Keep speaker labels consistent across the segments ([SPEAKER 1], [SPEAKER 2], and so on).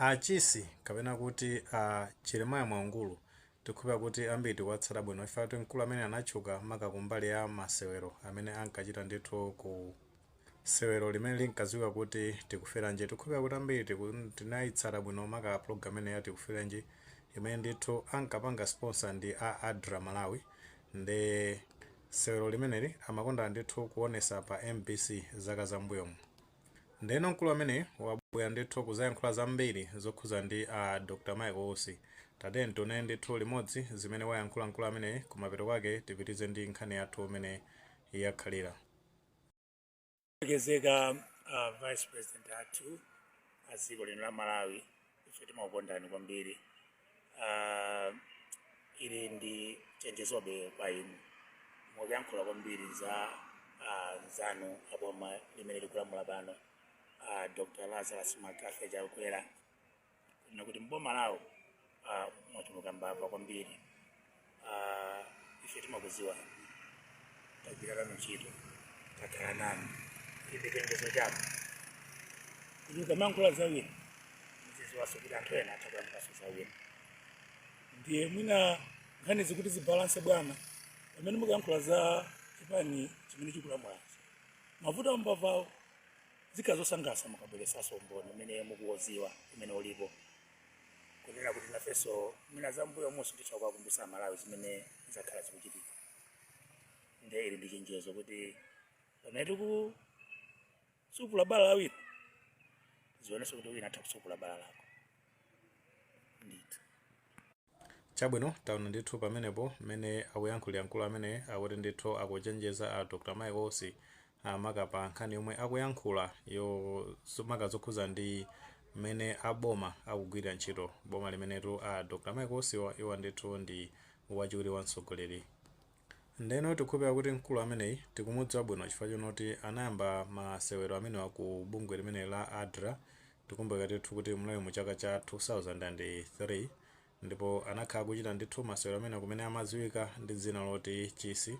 [SPEAKER 1] A Chisi kapena kuti a Jeremiah Mwaungulu tikukhulupira kuti ambiri tikuwatsata bwino chifukwa kuti mkulu amene anatchuka maka kumbali ya masewero amene ankachita ndithu ku sewero limene linkadziwika kuti Tikuferanji tikukhulupira kuti ambiri tinayitsata bwino maka program imene ya Tikuferanji imene ndithu ankapanga sponsor ndi a adra malawi ndi sewero limeneli amakonda ndithu kuonesa pa mbc zaka zambuyomu Ndeno mkulu ameneyi wabwera ndithu kuzayankhula zambiri zokhuza ndi a Dr Michael Usi. Tatiyeni tiwone ndithu limodzi zimene wayankhula mkulu ameneyi kumapeto kwake tipitize ndi nkhani yathu mene
[SPEAKER 2] yakhalira. Olemekezeka a Vice President athu a dziko lino la Malawi ife timakukondani kwambiri Ah, ili ndi chenjezobe kwa inu mukuyankhula kwambiri za ah, anzanu aboma limene likulamula pano ah, dr Lazarus McCarthy Chakwera kunena kuti mboma lawo ah, mwachuluka mbava kwambiri Ah, ife timakuziwa tagwira nanu ntchito takhala nanu ilibe chenjezo chako kuti ukamayankhula zawina muziziwaso kuti anthu ena atha kuyankhulaso zawina ndiye mwina nkhanizi kuti zibalanse bwana pamene mukuyankhula za chipani chimene chikulamulachi mavuto ambavawo zikhala zosangalatsa mukabweresaso umboni umene mukuwuziwa umene ulipo kunena kuti nafenso mwina zambuyomuzi titha kuwakumbutsa amalawi zimene zakhala zikuchitika nde ili ndi chenjezo kuti pamene tikusupula bala la wina zionenso kuti wina atha kusupula bala lako ndithu
[SPEAKER 1] Chabwino, taona ndithu pamenepo mmene akuyankhulira mkulu amene akuti ndithu akuchenjeza a Dr Michael Usi maka pa nkhani yomwe akuyankhulayo maka zokhuza ndi mmene a boma akugwilira ntchito, boma limenetu a Dr Michael Usiwa iwo ndithu ndi wachiwiri wa mtsogoleri Ndeno tikukhulupilira kuti mkulu ameneyi tikumudziwa bwino chifukwa chonoti anayamba ma sewero amenewa ku bungwe limeneli la adra tikumbukira ndithu kuti munali mu chaka cha 2003 ndipo anakhala akuchita ndithu masewero amenewa kumene amaziwika ndi dzina loti chisi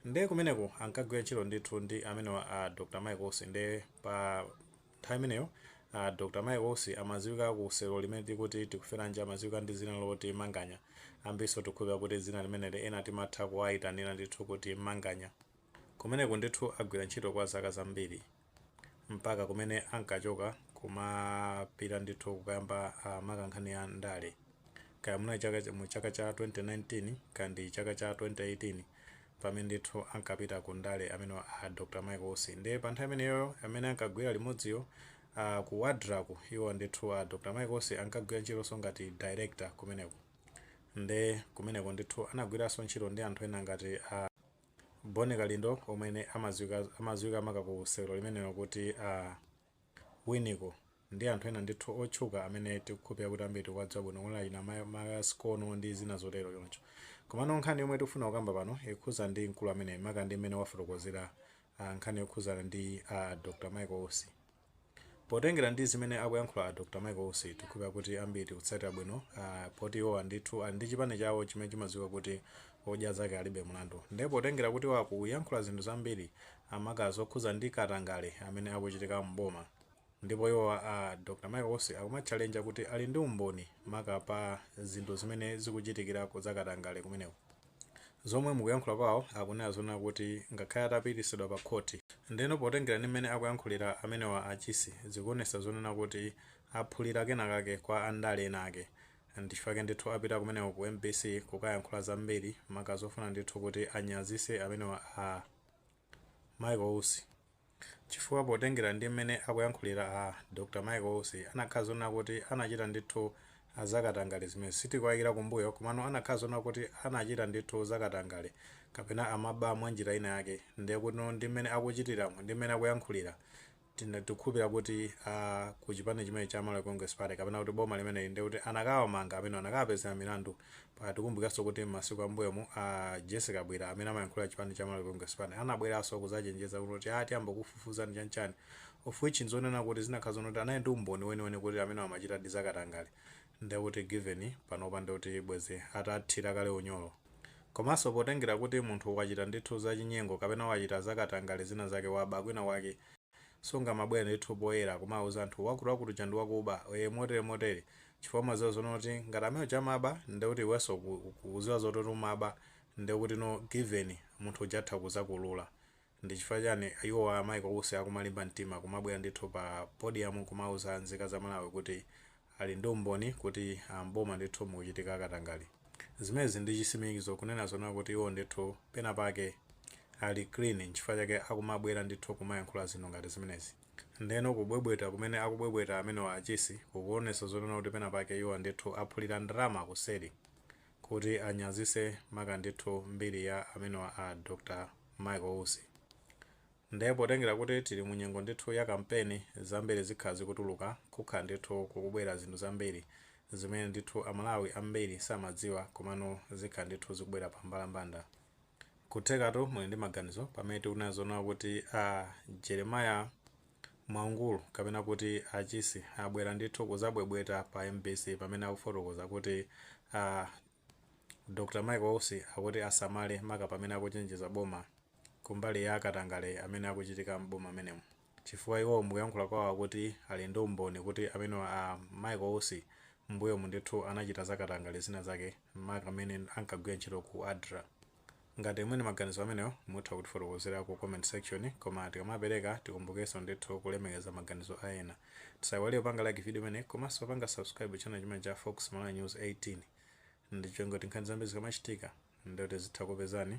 [SPEAKER 1] nde kumeneko ankagwira ntchito ndithu ndi amenewa a Dr Michael Usi nde pa Nthawi imeneyo a Dr Mike Usi amaziwika ku sewero limene tikuti Tikuferanji amaziwika ndi zina loti Manganya ambirinso tikukhulupira kuti dzina limeneli ena timatha kuwayitanira ndithu kuti Manganya kumeneku ndithu agwira ntchito kwa zaka zambiri mpaka kumene ankachoka kumapita ndithu kukayamba maka nkhani ya ndale kaya munali mu chaka cha 2019 kandi chaka cha 2018 pamene ndithu ankapita ku ndale amenewa a Dr Michael Usi ndiye pa nthawi imeneyoyo amene ankagwira limodziyo a ku ADRA ko iwo ndithu a Dr Michael Usi ankagwira ntchitonso ngati director kumeneko nde kumeneko ndithu anagwiranso ntchito ndi anthu ena ngati a Boni Kalindo omwe amadziwika maka ku sewero limenelo kuti a Winiko, ndi anthu ena ndithu otchuka amene tikukhupira kuti ambiri tikuwadziwa bwino kuno achina Masikono ndi zina zotero choncho. Komano nkhani yomwe tikufuna kukamba pano ikukhuza ndi mkulu amene maka ndi mmene wafotokozera nkhani yokhuzana ndi a Dr Michael Usi. Potengera ndi zimene akuyankhula a Dr Michael Usi tikukhupira kuti ambiri tikutsatira bwino poti iwowa ndithu ali ndi chipani chawo chimene chimadziwika kuti Odya Zake Alibe Mlandu nde potengera kuti iwo akuyankhula zinthu zambiri maka zokhuza ndi katangale amene akuchitika m'boma ndipo iwo a Dr Michael Usi akumatchalenja kuti ali ndi umboni maka pa zinthu zimene zikuchitikirako zakatangale kumeneko zomwe mkuyankhula kwawo akunena zonena kuti ngakhale atapitisidwa pa khoti ndeno potengera ndi mmene akuyankhulira amenewa a Chisi zikuonesa zonena kuti aphulira kenakake kwa andale ena ake ndichifake ndithu apita kumeneko ku MBC kukayankhula zambiri maka zofuna ndithu kuti anyazise amenewa a Michael Usi chifukwa potengera ndi mmene akuyankhulira a Dr Michael Usi anakhala zonena kuti anachita ndithu zakatangale zimezi sitikuwayikira kumbuyo komano anakhala zonena kuti anachita ndithu zakatangale kapena amaba mwanjira ina yake ndekutino ndi mmene akuchitiramo ndi mmene akuyankhulira tikukhulupira kuti ku chipani chimenechi cha Malawi Congress Party kapena kuti boma limeneli ndiye kuti anakawamanga amenewo, anakawapezera milandu. Tikumbukiranso kuti m'masiku a m'mbuyomu a Jessie Kabwila amene amayankhulira chipani cha Malawi Congress Party anabweranso kudzachenjeza kuti a tiyamba kukufufuzani chani chani of which n'zonena kuti zinakakhala zoona kuti anali ndi umboni weniweni kuti amenewo amachitadi zakatangale. ndekuti given panopa ndekuti bwezi atathira kale unyolo. Komanso potengera kuti munthu wachita ndithu za chinyengo kapena wachita za katangale zina zake waba kwina kwake sungamabwere ndithu poyera kumauza anthu wakuti wakuti uja ndi wakuba ee motere motere chifukwa umaziwa zonena kuti ngati amene uja amaba ndekuti iwenso ukuziwa zoti umaba ndekutino given munthu uja atha kuzakuulula Ndi chifukwa chani iwowa a Michael Usi akumalimba mtima kumabwera ndithu pa podium kumauza nzika za Malawi kuti ali ndi umboni kuti m'boma ndithu mukuchitika katangale? Zimenezi ndi chisimikizo kunena zonena kuti iwo ndithu pena pake ali clean nchifukwa chake akumabwera ndithu kumayankhula zinthu ngati zimenezi. Ndeno kubwebweta kumene akubwebweta amenewa a Chisi kukuonetsa zonena kuti pena pake iwo ndithu aphulira ndalama kuseri. kuti anyazise maka ndithu mbiri ya amenewa a Dr Michael Usi. Nde potengera kuti tili mu nyengo ndithu ya kampeni zambiri zikhala zikutuluka, kukhala ndithu kukubwera zinthu zambiri zimene ndithu a Malawi ambiri samadziwa komano zikhala ndithu zikubwera pa mbalambanda. Nkuthekatu muli ndi maganizo pamene tikunaku zoona kuti a Jeremiah Mwaungulu kapena kuti a Chisi abwera ndithu kuzabwebweta pa mbc pamene akufotokoza kuti a Dr Michael Usi akuti asamale maka pamene akuchenjeza boma kumbali ya akatangale amene akuchitika m'boma menemo. chifukwa iwowo mukuyankhula kwawo akuti ali ndi umboni kuti amenewa a Michael Usi mmbuyomu ndithu anachita za katangale zina zake maka mmene ankagwira ntchito ku adra. Ngati muli ndi maganizo amenewo mutha kutifotokozera ku comment section koma tikamapereka tikumbukenso ndithu kulemekeza maganizo a ena. Tisaiwale kupanga like video imeneyi komanso kupanga subscribe channel chimenechi cha Fox Malawi News 18 n'cholinga choti nkhani zambiri zikamachitika ndiye kuti zitha kukupezani.